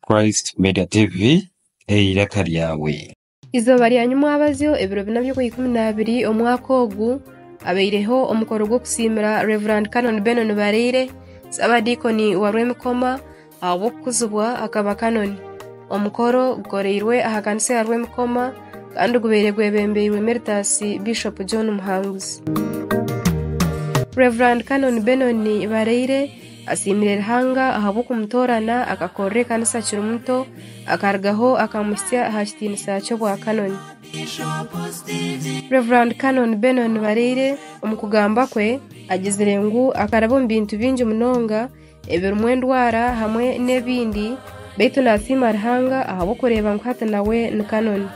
Christ Media TV, eiraka ryawe. Eizooba rya nyimwabazyo, ebiro bina by'okw'eikumi n'abiri omwaka ogu, habaireho omukoro gw'okusiimira Rev. Canon Benon Baraire, Ssaabadiikoni wa Rwemikoma, ahabw'okukuzibwa akaba Kanoni. Omukoro gukoreirwe aha kanisa ya Rwemikoma kandi gubaire gwebembeirwe Emeritus Bishop John Muhanguzi. Rev. Canon Benon Baraire. Asiimire Ruhanga ahabw'okumutoorana akakorera ekanisa akiri muto, akarugaho akamuhitsya aha kitiinisa ky'obwa Kanoni. Rev. Canon Benon Nibareire omu kugamba kwe agizire ngu akaraba omu bintu bingi munonga ebirimu endwara hamwe n'ebindi beitu nasiima Ruhanga ahabw'okureeba ngu hati nawe ni Kanoni.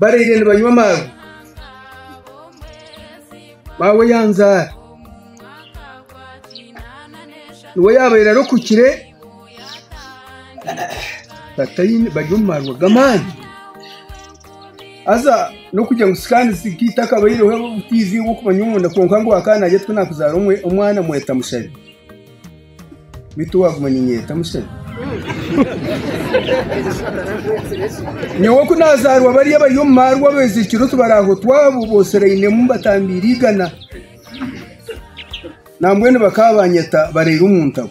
baraire nibanywa amazi maawe yaanzaara niwe yaabaire arokukire bari omu marwa g'amaani haza n'okugira ngu sikaani zitaine akabaireho obutiizi bw'okumanya omunda kwonka ngu akaana naagira ati ku naakuzaara omwana mweta mushabe Beitu waaguma niinyeeta mushana. Nyowe ku naazaarwa bari abari omu maarwa abeezirikire otu baraahotwa abo booserainemu mbatambiire igana. Nambwenu bakaba baanyeta baraire omu ntabo.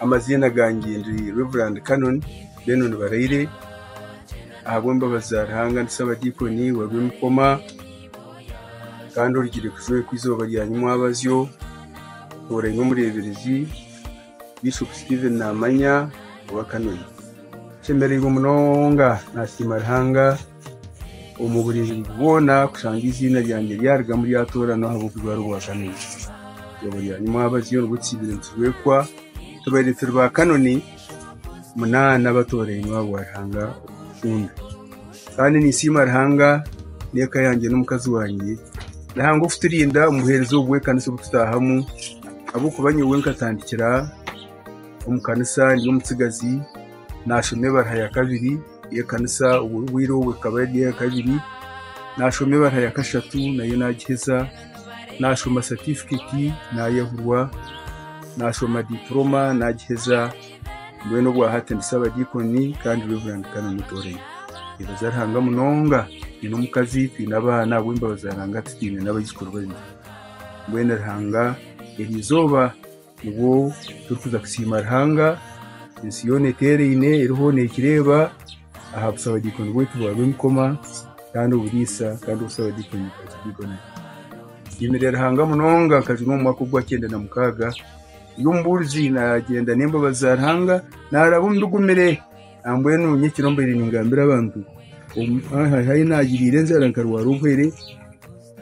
Amaziina gangye ndi Rev. Canon Benon Baraire, ahabw'embabazi za Ruhanga ndi Ssabadiikoni wa Rwimukoma kandi orugire kujweekwa eizooba rya nyimwabazyo oraine omureeberezi Bishop Stephen Namanya owa Canon. Nshemereirwe munonga, naasiima Ruhanga. omu buringuzi bwona kushanga eiziina ryangye ryarigamu ryatooranwa ahabw'okuba ari obwa Kanoni. Eizooba rya nyima abaziire nibwo tukiibire nitubekwa tubaire turi ba Kanoni munaana abatoorainwe aha bwa Ruhanga orikukunda. Kandi ninsiima Ruhanga n'eka yangye n'omukazi wangye Ruhanga okuturinda omu buheereza obu bw'ekanisa obu tutaahamu ahabw'okuba nyowe nkatandikira omu kanisa ndi omutsigazi, naashoma ebaruha ya kabiri, Ekanisa obwo bwire obwo ekaba eri eya kabiri, nashoma ebara ya kashatu nayo nagiheza, nashoma satifiketi nayehurwa, nashoma dipuroma nagiheza, mbwenu obwa hati ndi sabadiikoni kandi Rev. Canon Mutooremi. Ninyebaza Ruhanga munonga, nyine omukazi, twine abaana ab'embabazi za Ruhanga tutaine n'abaijukuru babiri. Mbwenu Ruhanga erizooba. Obwo turikuza kusiima Ruhanga, ensi yoona eteeraine eriho nekireeba aha busabadiikoni bwaitu bwa Rwemikoma kandi oburiisa kandi obusabadiikoni bwa Kidiikoni. Nsiimire Ruhanga munonga nkagira omu mwaka ogwa kyenda na mukaaga ndi omubuurizi nagyenda n'embabazi za Ruhanga naaraba omu bigumire nambwenu nyekiro mbaire ningambira abantu ahu naagiriire enjara nkarwara obuhere,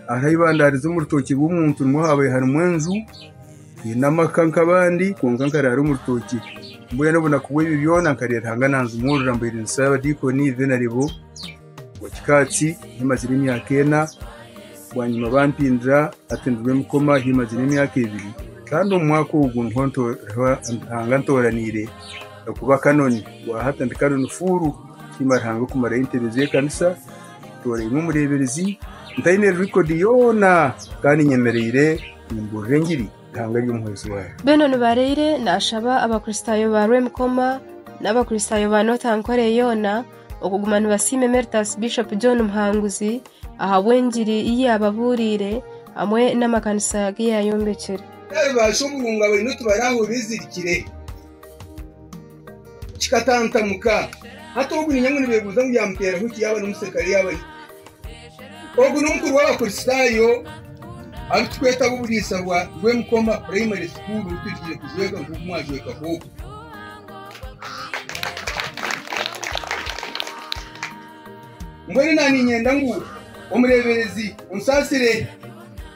Hariho eibandarizo omu rutookye rw'omuntu nimwo haabaire harimu enju haine amaka nk'abandi kwonka nkaraara omu rutookye mbwenu obunaku bw'ebyo byona nkareeba Ruhanga nanzimuurira mbaire ninshaba abadiikoni then naibo owa kikaatsi ahi mazire emyaka ena bwanyima bampindura hati ndi Rwemikoma ahi mazire emyaka ebiri kandi omu mwaka ogu niho Ruhanga antooraniire okuba kanoni rwahati ndi kanoni fuuru nsiima Ruhanga okumarayo entebe z'ekanisa Ntooreirwe omureeberezi, ntaine rekodi yoona, kandi nyemereire nimbuurira engiri, eihanga ry'omuhwezi waayo. Beno nibareire nashaba abakristaayo ba Rwemikoma n'abakristaayo ba North Ankole yoona okuguma nibasiima Emeritus Bishop John Muhanguzi ahabw'engiri ei yaababuuriire hamwe n'amakanisa agu yaayombekire. Tari baasha oburungo abaine otu barahurira ezirikire. Kikatantamuka. Hati ogu niinyanya ngu nibeebuuza ngu yaamuteeraho ki yaaba n'omuserikare yaaba ye? Ogu n'omukuru w'Abakristaayo abu turikweta ab'oburiisa bwa Rwemukoma Primary School obu tuhikire kujweka nk'oku mwajwekaho ogu. Mbwenu naaniinyenda ngu omureeberezi onsaasire.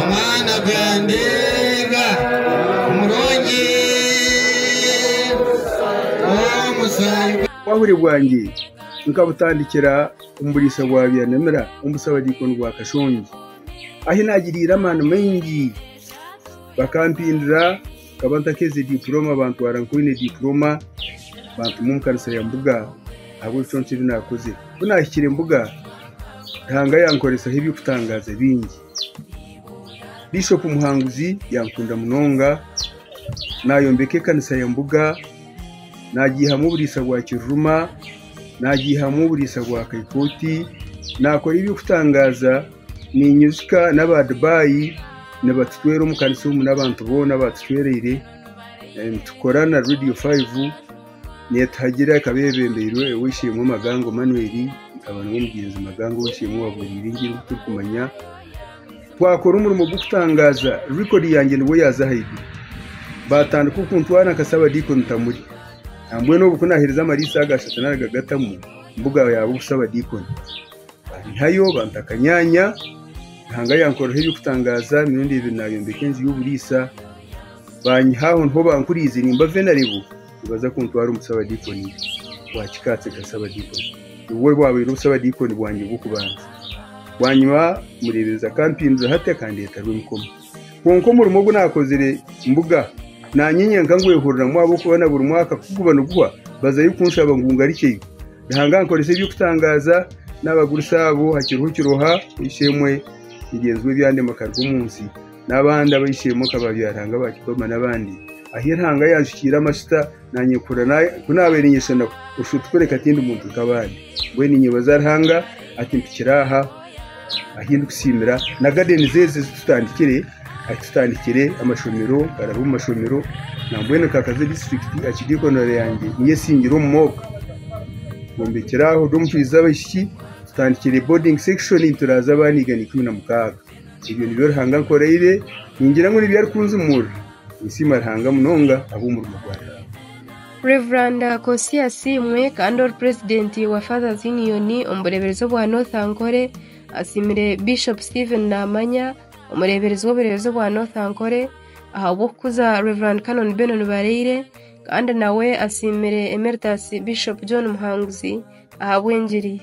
Omwana gwangye omurungi omusaayi gwe. Obwahuri bwangye nkabutandikira omu buriisa bwa Byanamira omu busabadiikoni bwa Kashongi, ahi naagiriire amaani maingi bakampindura. Nkaba ntakeize dipuroma, bantwara nk'oine dipuroma, bantuma omu kanisa ya Mbuga ahabw'ebicweka ebi naakoze. Ku naahikire Mbuga, Ruhanga yankoresaho eby'okutangaaza bingi. Bishopu Muhanguzi yankunda munonga, naayombeka ekanisa ya Mbuga, naagiihamu oburiisa bwa Kiruruma, naagiihamu oburiisa bwa Kaikooti, naakora eby'okutangaaza Niinyijuka n'aba Dubai nibatucwera omu kanisa omu n'abantu boona batucwereire nitukora na Radio 5 neetuhagira ekaba eyebembeirwe ow'eishe-emwe Magango Emmanuel nkaba niwe mugyenzi Magango ow'eishe-emwe owaabweraire engye nk'oku turikumanya twakora omurimo gw'okutangaaza record yangye nibwo yaaza ahaiguru baatandika okuntwara nka Saabadiikoni Tamuri nambwenu obu kunaaheerize amariisa aga ashatu nari gatamu mbu gaabaye obusabadiikoni. Baihayo banta akanyaanya, Ruhanga yankoreraho eby'okutangaaza emirundi ebiri naayombeka enju y'oburiisa. Baanyiha aho niho bankuriize nimba venarebo nibaza kuntwara omu busabadiikoni bwa kikaatsi nka sabadiikoni. Nibwo bwabaire obusabadiikoni bwangye bw'okubanza. Bwanyima omureeberezi akampindura hati akandeeta Rwemikomwe. Kwonka omurimo ogu naakozire mbuga, naanye nyenka ngwehuriramu ahabw'okuba na buri mwaka ku guba niguhwa bazayo kunshaba ngu ngarukyeyo. Ruhanga ankoresa eby'okutangaaza, naabagurusi abo hakiriho kiroha eishe-emwe mugyenzi we ebyandema akaruga omu nsi, n'abandi ab'eishe-emwe nka baabyarahanga ba Kipama n'abandi, ahi Ruhanga yaanshukyeire amashuta. Naanye kurora ku naabaire nyeshana Bushotu kureka tindi muntu nk'abandi. Mbwenu ninyebaza Ruhanga akimpikira aha ahi ndikusiimira na gadenizi ezi ezi tutandikire. Ahi tutandikire amashomero, nkaraaba omu mashomero nambwenu nkakaza e disiturikiti aha kidiikonero yangye niyo esingire omu moko. Nkombekire aho ndi omushwija abaishiki, tutandikire bodingi sekishoni nituraaza abaana igana ikumi na mukaaga. Ebyo nibyo Ruhanga ankoreire, ningira ngu nibyo arikunzimuurira. Ninsiima Ruhanga munonga ahabw'omurimo gwa Yaaba. Rev. Kosi Asiimwe kandi ori Purezidenti wa Fathers Union omu bureeberezi obwa North Ankole asiimire Bishop Stephen Namanya, omureeberezi w'obureeberezi obwa North Ankole ahabw'okukuza Rev. Canon Benon Baraire kandi nawe asiimire Emeritus Bishop John Muhanguzi ahabw'engiri ye.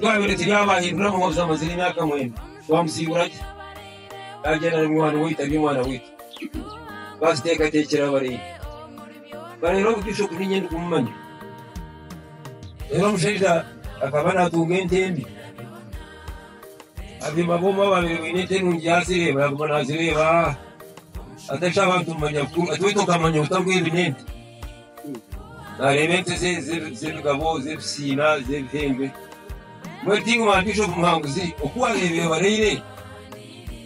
Twabire turi abahindura mu mabza mazire imyaka mwenda twamusiibura ki agenda na mwana waitu ari omwana waitu twaziteekateekyera abareeyi bareero obu bishop ninye ndikumumanya reero omushaija akaba naatunga ente embi Abaziimba booma babaire baine ente nungi ya sereeba, yaaguma naazireeba atari abantu kumanya ku ati waitu okamanya ota ngu ezi n'ente? Naareeba ente ze z'ebigabo, z'ebisiina, z'ebihembe. Mbwenu tingimanya mpaishopu muhanguzi oku waareeba eyebareire.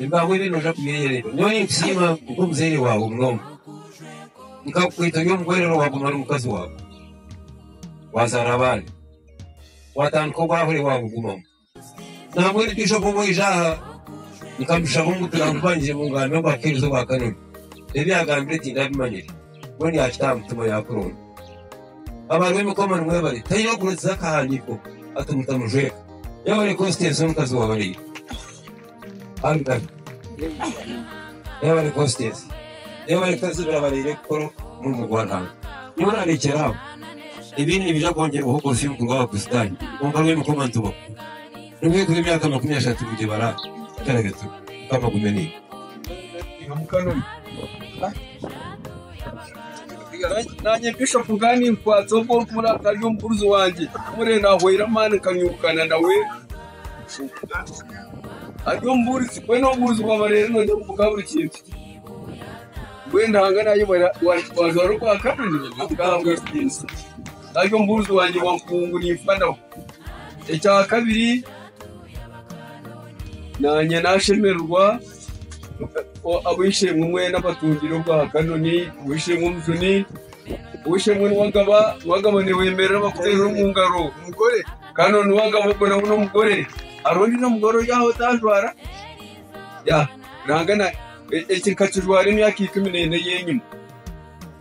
Ebibahwire noija kubyeyerererwa. Nyowe ninkusiima nk'omuzaire waawe munonga. Nkakukweta ori omu bwerere waaguma ori mukazi waawe, waazaara abaana, waatandika obwahwere waabugumamu. Nambwenu itwe ku waija aha nkamushaba ngu turamubangye ngu akeereze obwa kanyina. Ebi yaagambire tindabimanyire. weena yaakita aha mutima yaakuronda. Abari b'emikomo nimwebare, taine orikureetsiza akahandiiko ati mutamujweka, yaaba ari kositeesi omukazi wa baraija. Abikazi, yaaba ari kositeesi, yaaba ari kutazibira baraija kukora omurimo gwa Ruhanga. Nyowe naareekyera aho, ebindi nibiija kwongyerwaho korosyo omu kuruga aha Bakristaayo, kwonka rw'emikomo nitubaho. N'obwekuba emyaka makumi ashatu mugibara etaragatu, Mukama agume naiwe. Naanye Bishop nkaba ninkwatsa ogu orikumureeba ari omugurusi wangye. Mpurire naahwaire amaani nkanyuukana nawe. Ari omubuurizi, mbwenu obubuurizi bwaba reero noogira ngu bukaha buri kintu. Mbwenu Ruhanga naayebare waajwara ogwa kabiri, okahabwa ekitiinisa. Ari omubuurizi wangye wa nkungu, nimfa nawe. Ekya kabiri, naanye naashemererwa ku ab'eishe-emwe mbwenu abatungire obwa Kanoni, ow'eishe-emwe omujuni, ow'eishe-emwe niwagaba, niwagaba niwemerera bakuteera omu ngaro. Kanoni wagaba ogwo nawe n'omugore. Hariho ondiijo mugore ori aho otaajwara? Yaaha, nangwa na, eki nkakijwara emyaka ikumi n'ena ey'enyima.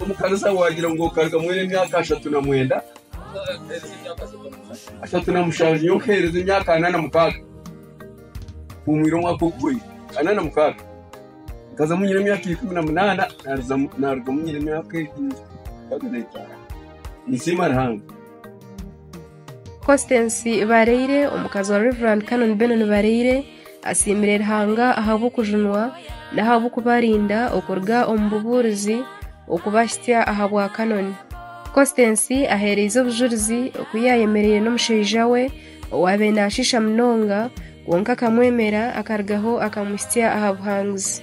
Omukaniza waagira ngu okaruga mwena emyaka ashatu na mwenda, ashatu na mushanju, nyowe nkahereza emyaka ana na mukaaga. Mpumwire omwaka oguhwire, ana na mukaaga. Nkazamu nyine emyaka ikumi na munaana, naaruzamu- naarugamu nyine emyaka egi- mukaaga n'etaano. Ninsiima Ruhanga. Constance Bareire, omukazi wa Rev. Canon Benon Bareire, asiimire Ruhanga ahabw'okujunwa n'ahabw'okubarinda okuruga omu bubuurizi okubahitsya aha bwa Canon. Constance aheereize obujurizi oku yaayemereire n'omushaija we owaabaire naashiisha munonga kwonka akamwemera akarugaho akamuhitsya aha buhanguzi.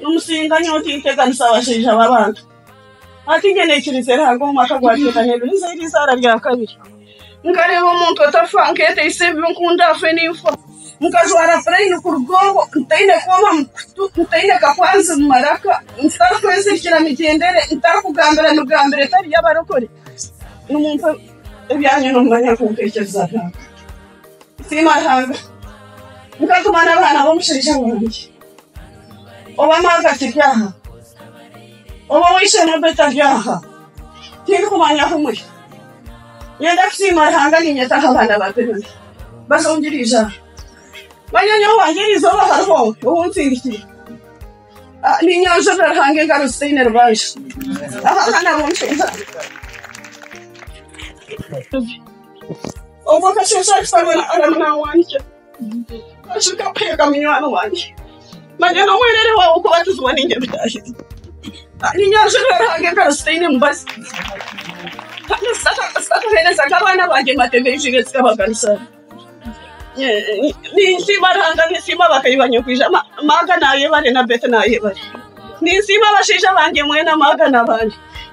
Nimusinga nyowe tinteganisa abashaija b'abantu. Hati inye naikiriza eri hanga omu mwaka gwa kyenda n'ebiri nze eri eizaara rya kabiri. Nkareeba omuntu atafa, nkeeteisa ebi nkunda afe ninfa. Nkajwara puraini kuruga obwo, ntaine kooba mu kutu, ntaine kakwanzi mu maraka, ntarikwezirikira migyendere, ntarikugambira migambire etari y'abarokore. Nimumpa ebyanyima nimumanya nk'oku nteekyereza byanga. Siima Ruhanga, nkaguma n'abaana b'omushaija wangye. Obu amaazi akiri aha, obu ow'eishe-emwe ogwe tari aha, tindikumanya ahu muri. Niinyenda kusiima Ruhanga niinyeta aha baana ba Beroya baze omu biro eija aha. Manya nyowe wangye eri izooba hariho owuntsindikire. Ninyanjurira Ruhanga engaro zitaine rubanja ahabw'abaana b'omushaija wangye. Obwo nkashesha aha kitabo Aramu naawandiikira, nkashuka kuheeka munywani wangye. Manya n'omwerere waawe okubatizibwa nainga ebitaahire. Kandi nyanza ebi Ruhanga engaro zitaine mubazi. Kandi zitakaheereza nk'abaana bangye mateeka ei ziine zikabagaruza. Ninsiima Ruhanga, ninsiima bakaibanyu okwija Maaga naayebare na Beti naayebare. Ninsiima abashaija bangye mwena Maaga n'abandi.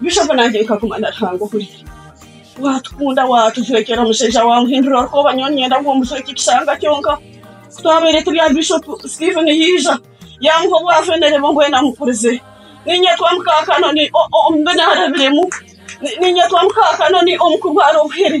Bishop nangye nkaguma na Ruhanga ohuri watukunda watujwekyera omushaija wamuhindura orukooba nyowe niinyenda ngu omujwekye ekishanga kyonka ku twabaire turi aha Bishop Steven yaija yamuha obwafenere bwe mbwenu amukurize niinyetwa muka Kanoni omu bi naarebiremu niinyetwa muka Kanoni omu kurwara obuhere.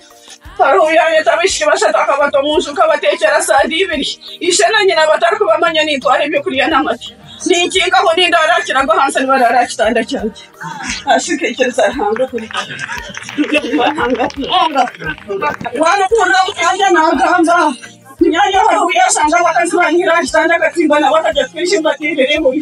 Faraho yaayeta abaishiki bashatu akabata omu nju nk'abateekyera saadi ibiri. Ishe na nyina batarikubamanya nintwara eby'okurya n'amata. Ninkinga aho nindaara aha kirago ahansi nibaraara aha kitanda kyangye. Asi nkaikiriza Ruhanga kureeba. Waaba okuhurira omu kyangye naagamba, Munyaanya Faraho yaashanga abakazi baanihire aha kitanda akatimba nabo akagye kukaija embaata eibiri eihumi.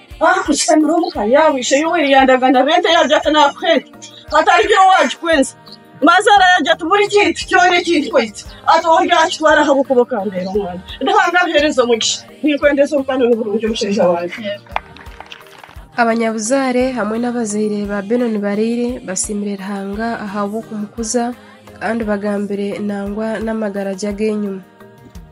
Abanyabuzaare hamwe n'abazaire ba Benon Baraire basiimire Ruhanga ahabw'okumukuza kandi bagambire nangwa n'amagara gye ag'enyima.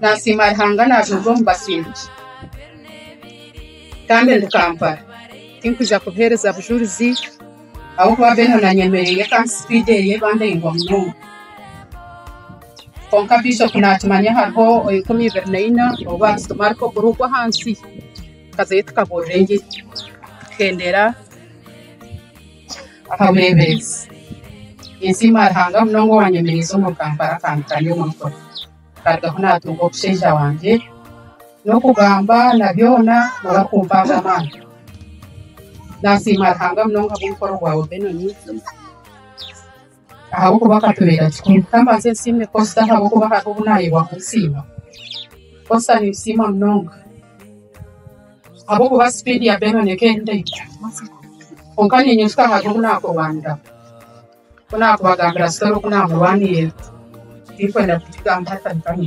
Nasiima Ruhanga naajooga omu basingye kandi ndi Kampala. Tinkwija kubuheereza bujurizi ahabw'okuba mbwenu nanyemereire kandi sipidi eye eba ndaingwa munonga. Kwonka Bishopu naakimanya hariho enkumi ibiri na ina ou baatutuma ariko kuri ogwo ahansi tukazayo tukabuurira engiri tuhendera. akabureebereza. Ninsiima Ruhanga munonga owaanyemereize omu Kampala akampika n'omu nkoro. Nkarugaho naatunga omushaija wangye, n'okugamba na byona nooba kumpaaho amaani. Naasiima Ruhanga munonga ahabw'omukoro gwa Obenon. ahabw'okuba akatureera kikuru. Ka mbanze nsiime posita ahabw'okuba hariho obu naayebwa kunsiima. Posita ninsiima munonga ahabw'okuba sipiidi ya Benon eka ei ndaija kwonka niinyijuka hariho obu naakurwaniraho. Ku naakubagambira sitori oku naamurwanirira, tirikwenda kugigamba hataruga aha.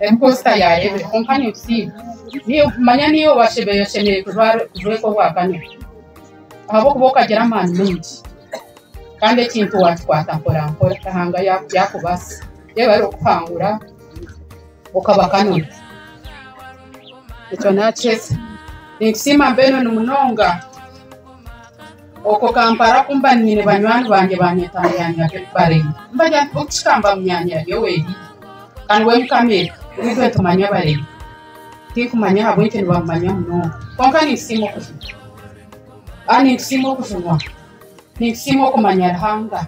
Emposta ya Rebbe kwonka nibusiiba niyo okumanya niiwe washemereire oshemereire kujweka obwa kamera ahabw'okuba okagira amaani maingi kandi ekintu wakikwata mporampora Ruhanga yaakubaasa yaaba arikukuhangura okaba kamera. Ekyo naakiheza. Ninkusiima Benon munonga. Okwo Kampala ku mba nyine banywani bangye banyeta Munyanya Betty Bareyi. Mbagira nti buti ka mba Munyanya Yoweri. Can when come eka nitwe tumanya Bareyi. Tinkumanya ahabw'enki nibamumanya munonga. Kwonka nintusiima okujunwa. Aa nintusiima okujunwa. Nintusiima okumanya Ruhanga.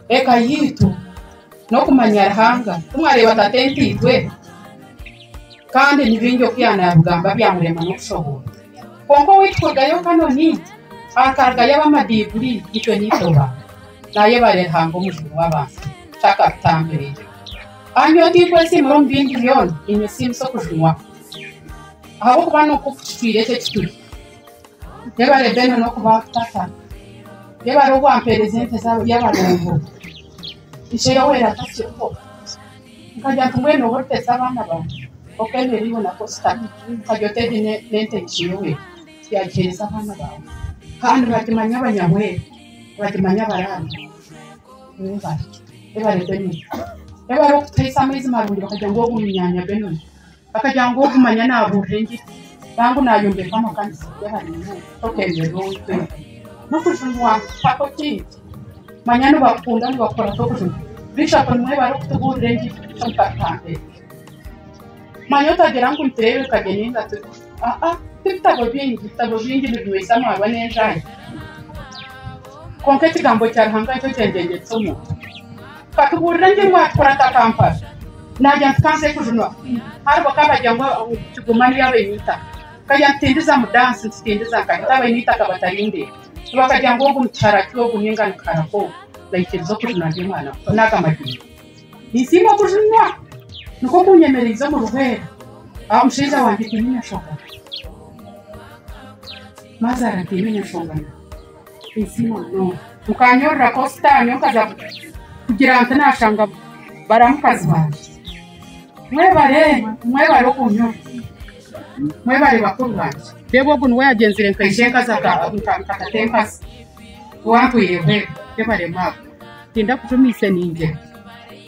Eka yaitu n'okumanya Ruhanga. Ku mwareeba tata entaitwe, kandi ni bingi oku yaanabigamba byamurema n'okushoboorwa. Kwonka owaitu Kodayo Kanoni akagayo ab'amadiiburi itwe n'eizooba naayebaare Ruhanga Omujuni w'abantu chaka tutambire. Aha nyowe tinkwesiimura omu bingi byona ninyesiimisa okujunwa ahabw'okuba nikwo kukitwire eki ekituri. Yebare Beene n'okuba tata. Yebare obu ampeereza ente z'abaroobo. Ishe Yoweri atasirikwo. Nkarya nti mbwenu oba oriteesa abaana bangye kwonka ebi ebiriho nabyo sitane nkarya ote ebi n'entebeekanisa Yoweri tibyagiheereza abaana baawe kandi nibagimanya abanyabwere nibagimanya abaraabe webare Benon webare kutuheesa amaizi marungi bakagira ngu ogu ni nyaanya Benon. Bakagira ngu ogu manya naabuurira engiri, nainga ngu naayombeka amakanisa gye aha binyoma. Tokeeberera ou twete n'okujumwa. Mpaho ki? Manya nibakukunda, nibakukora nk'okujuma. Beitu aho nimwo bari kutubuurira engiri kukira omu katuhambere. Manya otagira ngu nitureebeka gye nainga turi. Aa, tibitabo bingi. Ebitabo bingi nibinywesa amaarwa n'enjaahi. Kwonka Ekigambo kya Ruhanga nikyo kyengyegyetsa omuntu. Katubuurira ngu emwe atukura nka Kampala naagira nti kanze kujunwa haribo ka bagira ngu kigoma niyo abaine eitaka tukagira nti tindiza mu dansi nitutindiza nka hati abaine eitaka batarindeba so bakagira ngu ogu nikihara ki ogu ninga nikihara ki ogu naikiriza okujunwa ndi omwana muto naaga amadiini ninsiima okujunwa nikwo kunyemereize omu rubwere ahabw'omushaija wangye tihiine enshoga. Mazara nkaine enyeshongana ezi munonga. Nkanyurura kosita nyowe nkaza kugira nti nashanga bara mukazi wangye. Mwebare, mwebare okunyurura. Mwebare bakuru bangye. Reeba ogu niwe yagyenzire nka ishe nkaza nka tata enkazi owantwireho embwa. Mwebare maama. Tindakujumiise ningira.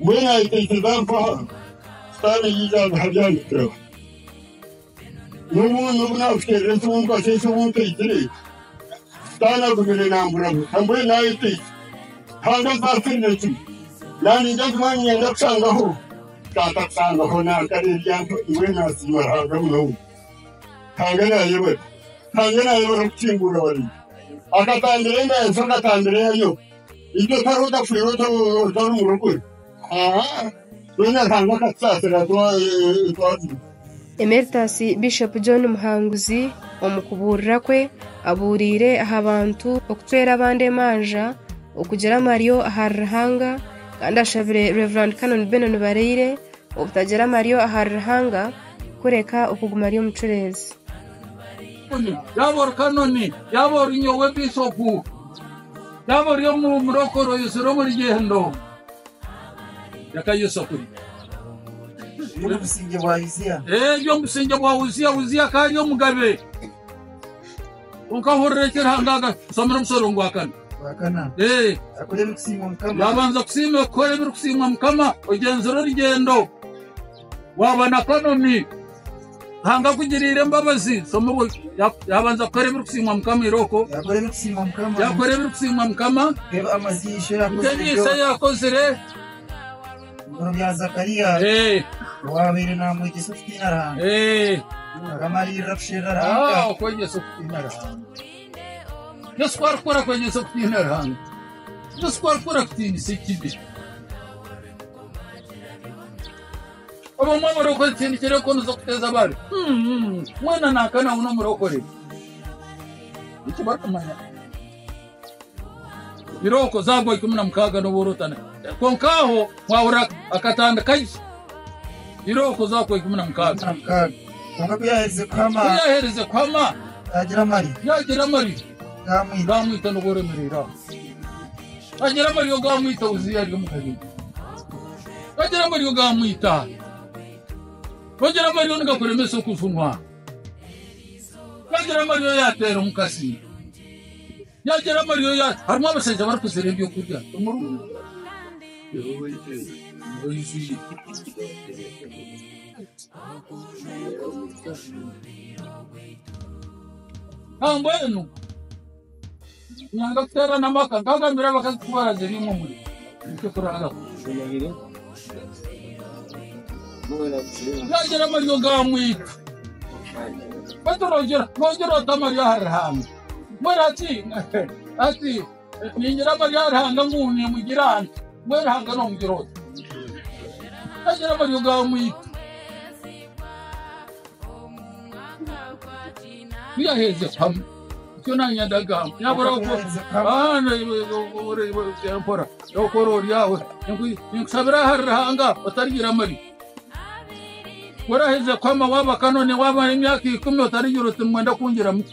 Mbwenu ayeteekyereza ngu aha Sitaane yaija aziha Byahandiikirwe. N'obu n'obu naakuteerera eki omukwasire eki obu ntaigire, Sitaane agumire naamburabura. Mbwenu ayeteitse kandi azaasirire kimwe. Naaningira ngu mbwenu niinyenda kushangaho Taata kushangaho naankareebya nti mbwenu naasiima Ruhanga munonga. Ruhanga naayebare. Ruhanga naayebare kukingurira ware. Akatambire ngu ayenkye akatambire yayo. Itwe twaba otafire otari murokore, twena Ruhanga akatusaasira twajurwa. Emeritus Bishop John Muhanguzi omu kubuurira kwe abuuriire aha bantu okucwera abandi emanja, okugira amaryo ahari Ruhanga kandi ashabire Rev Canon Benon Baraire obutagira amaryo ahari Ruhanga kureka okuguma ari omucureezi. Yaaba ori omurokore oyizire omu rugyendo reka Yesu akuri Eri omu busingye bwa Uziya. eri omu busingye bwa Uziya Uziya akaba ari omugabe kwonka hurira eki Ruhanga aga somera omusoro gwa kana Gwa kana. Eh, Akora ebirikusiima Mukama. yabanza kusiima kukora ebirikusiima Mukama ogyenzire orugyendo Waaba na kanomi, Ruhanga akugiriire embabazi. Shoma obwo yaabanza kukora ebirikusiimwa Mukama irooko. Yaakora ebirikusiimwa Mukama. Yaakora ebirikusiimwa Mukama. Reeba amaziina ishe yaakozire. Reeba amaziina ishe yaakozire. Ebiro bya Zakariya. Owaabaire naamwegyesa okutiina Ruhanga. Mukama ariirira kusherura Ruhanga. Okwegyesa okutiina Ruhanga. Yesu ku arikukora kwegyesa okutiina Ruhanga. Yesu ku arikukora kutiinisa ekibi. abamwe abarokore tindikire ko nizo kuteza abari mwena nakana wuna omurokore eki barikumanya biroko zagwa ikumi na mukaaga noborotana konka aho wahura akatandika gye biroko zakwa ikumi na mukaaga Nakaaga. Konka kuyaherize kuhama kuyaherize kuhama tagira amarira yagira amarira Gaamwita nobwo oremereire aho. Agira ngu ariyo gaamwita Uziya ari omu Galili. Agira ngu ariyo gaamwita. Agira ngu ariyo nigakuremesa okujunwa. Agira ngu ariyo yaateera omukazi. Yagira ngu ariyo ya... Harimu abashaija barikuzira ebyokurya. Omurungu. Nambwenu Ruhanga kuteerana amaka nkagambira abakazi ku baraziriimu omuri nikyo kuraabaho. Turagira amaryo ga mwika. Baturogira, rogira ota amaryo aha Ruhanga. Mura ki? Ati, Ningira mbari aha Ruhanga ngu nimugira nti, Mbwenu Ruhanga noomugira ota? Nagira amaryo gaamwita. Ku yaherize kuhamu ekyo naanye ndagamba, yaabura empora y'okukora ori aho. Ninkushabira ahari Ruhanga otarigira amaryo. Ku oraherize kuhama waaba kanoni, waaba emyaka ikumi otarigira oti, Nimwenda kungira muta?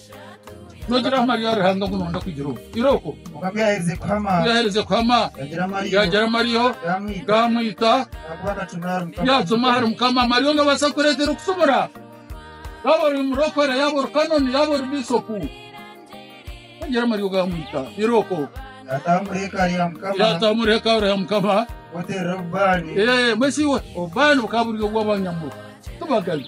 Nogira aha Mariya Ruhanga ngu noyenda kwigira omu iroobo. Kwonka ku yaherize kuhama, Ku yaherize kuhama, yagira amariyo, yagira amariyo, gamwita, gamwita, ahakuba akacumura ahari Mukama. yacuma ahari Mukama. Mariya ongabaasa kukureetera okucumura. Yaaba ori murokore, yaaba ori kanoni, yaaba ori bishopu. Yagira amariyo, gamwita iroobo. Yataha omuri hekaari ya Mukama, Yataha omuri hekaari ya Mukama. kuterera obubaani. Eh, Mbwenu shi iwe obubaani bukaba buri obw'abanyamurwa tibagabi.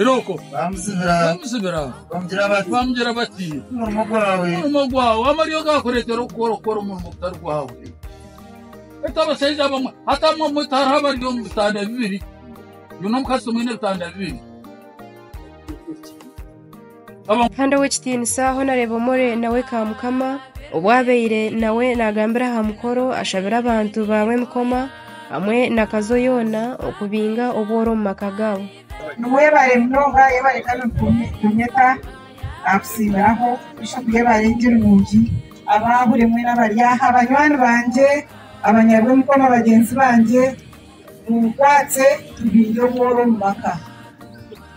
Iroko bamuzibira bamuzibira bamugira bati bamugira bati omurimo gwawe omurimo gwawe amaryo gakureetera okukora okukora omurimo gutari gwawe ati abashaija abamwe ati amwe omwe hariho abari omu bitanda bibiri nyine omukazi tumwine ebitanda bibiri Kandi ow'ekitiinisa ahu naareeba omure nawe ka mukama, obu abaire nawe naagambira aha mukoro ashabire abantu baabo emikoma, hamwe na kazo yoona okubinga obworo omu maka gaabo. Niwebare munonga yebare kandi nitukunyeta kusiimiraho Bishop yebare ngye nungi abaahure mwena abari aha banywani bangye abanyarw'emikoma bagyenzi bangye. Munkwatse tubiinge obworo omu maka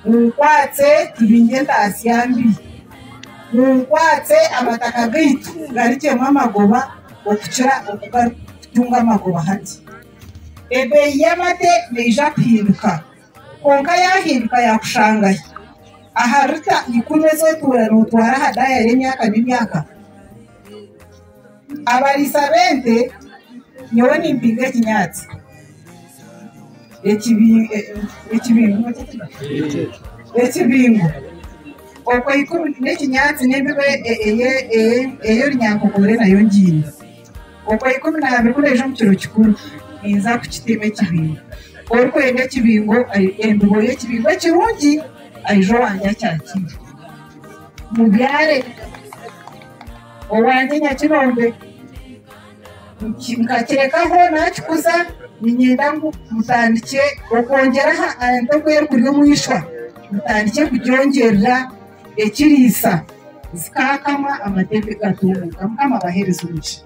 Munkwatse tubiinge entaatsya mbi Munkwatse amataka gaitu garikyemu amagoba okukira oku garikutunga amagoba hati Ebeeyi y'amate neija kuhinduka Kwonka yaahinduka yaakushangahi aha lita ikumi ezi otuura nootwara aha daayari emyaka n'emyaka? Abariisa b'ente nyowe nimpinga ekinyaatsi ekibingo okwo ikumi n'ekinyaatsi n'embibo ei orunyankoko oreeba nayo ngiini okwo ikumi n'abiri ku naija omu kiro kikuru ninza kukiteema ekibingo orikwenda ekibingo embibo y'ekibingo ekirungi aije owange akyakiine. Mubyare owangye Nyakirombe nkakirekaho naakikuza niinyenda ngu mutandikye okwongyera aha ente oku erikuri omu ishwa, mutandikye kugyongyerera ekiriisa zikaakama amate gatubuuka. Mukama abaheereze omugisha.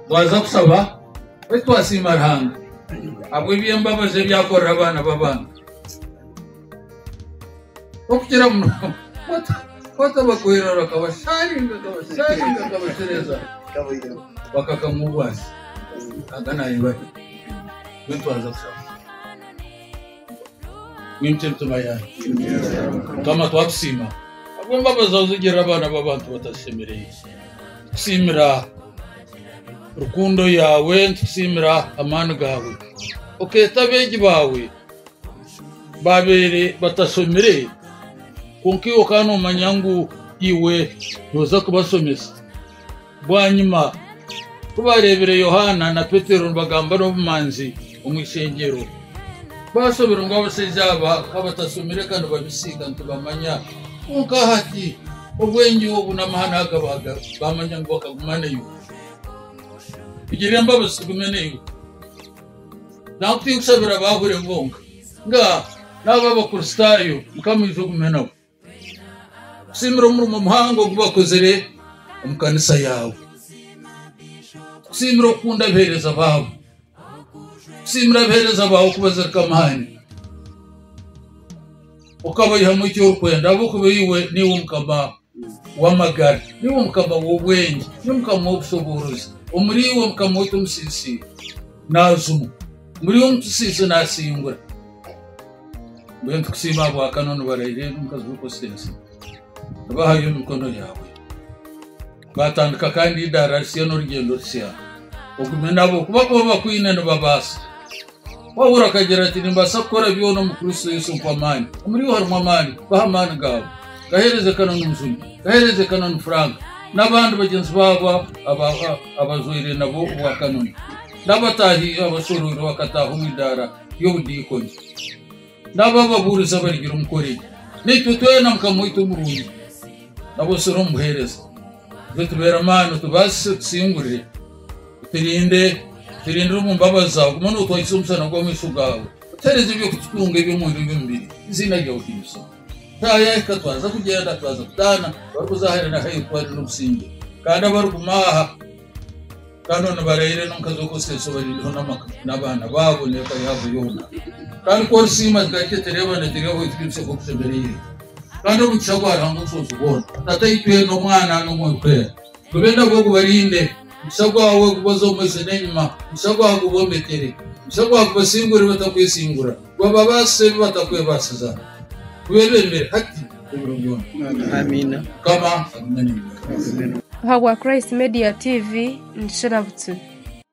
Twaza kusaba beitu twasiima Ruhanga ahabw'eby'embabazi ebi akorera abaana b'abantu. Okugira muno, kwata bakuhwera bakabasharinga, bakabasharinga, bakabashereza, bakakama obwasi. Aga nayeba baitu aza kushaba. Ninki entuba yayo? Mukama twakusiima habw'embabazi zawe zigirira abaana b'abantu batashemereire. Tukusiimira rukundo yawe, nitukusiimira amaani gawe. Okeeta abeegi bawe Baabaire batashomire, kwonka iwe okaba noomanya ngu iwe nooza kubashomesa. Bwanyima ku baareebire Yohaana na Petero nibagamba n'obumanzi omu ishengyero, baashoberwa ngu abashaija aba ka batashomire kandi babisiika nitubamanya. Kwonka hati obwengye obu n'amahane aga baamanya ngu bakaguma naiwe. Tugirire embabazi tugume naiwe. Nanku tinkushabira abaahwire bonka, nga n'abo Abakristaayo Mukama aije ogume nabo. Nkusiimira omurimo muhango ogu bakozire omu kanisa yaawe. Nkusiimira okukunda abaheereza baawe. Nkusiimira abaheereza baawe ku bazirika amaani, okabaihamu eki orikwenda ahabw'okuba iwe niiwe Mukama. w'amagara, niiwe Mukama w'obwengye, niiwe Mukama w'obushoboorozi, omuri iwe Mukama waitu omusiisiiro naajumwa, omuri iwe omutusiise naasingura. Mbwenu tukusiima ahabwakana onibaraira eri omukazi orikukozesa ensiri, aba ahari omu mikono yaawe. Twatandika kandi eidaara risya n'orugyendo rusya, ogume nabo, kuba ku bo bakwine nibabaasa, Paulo akagira ati, Nimbaasa kukora byona omu Kristo Yesu ompa amaani. Omuri iwe harimu amaani. Baha amaani gaawe. Gaheereze kana nunzuni. Gaheereze kana nu Frank n'abandi bagyenzi baabo abajwaire nabo obwa kanoni n'abataahi abashoroirwe bakataaha omu idaara ry'obudiikoni. N'abo ababuurizi abarigira omu Korinto, naitwe twena Mukama waitu omurungi, nabo osure omu buheereza. Itwe tubeere amaani, otubaasise, otusingurire, oturinde, oturindire omu mbabazi zaawe, ogume nootwahisa omusana gw'amaisho gaawe. Tuheereze eby'okututunga eby'omwendo eby'omubiri, eiziina ryawe rihimbiswe. Shaaha yaahika twaza kugyenda, twaza kutaana, barikuza hare na hare kutwarira obusingye, kandi abariguma aha, Kandi onu barayira enu nka z'okuseesa obarindiho n'abaana baabo n'eka yaabo yoona. Kandi ku orisiima zikagye tereebana ziri aho ekitinisa oku kishemereire. Kandi omugisha gwa Ruhanga Omusobozi Boona, Tataitwe, n'Omwana, n'Omwoyo Gwera, gube nabo gubarinde. Omugisha gwawe gubaze omu maiso n'enyima, omugisha gwawe gubombekere, omugisha gwawe gubasingure batakwesingura. Bababaase ebi batakwebaasiza, kubebembere hati ebiro byona. Amiina. Mukama agume naiwe. Ahabwa Christ Media TV nikikira butsibu.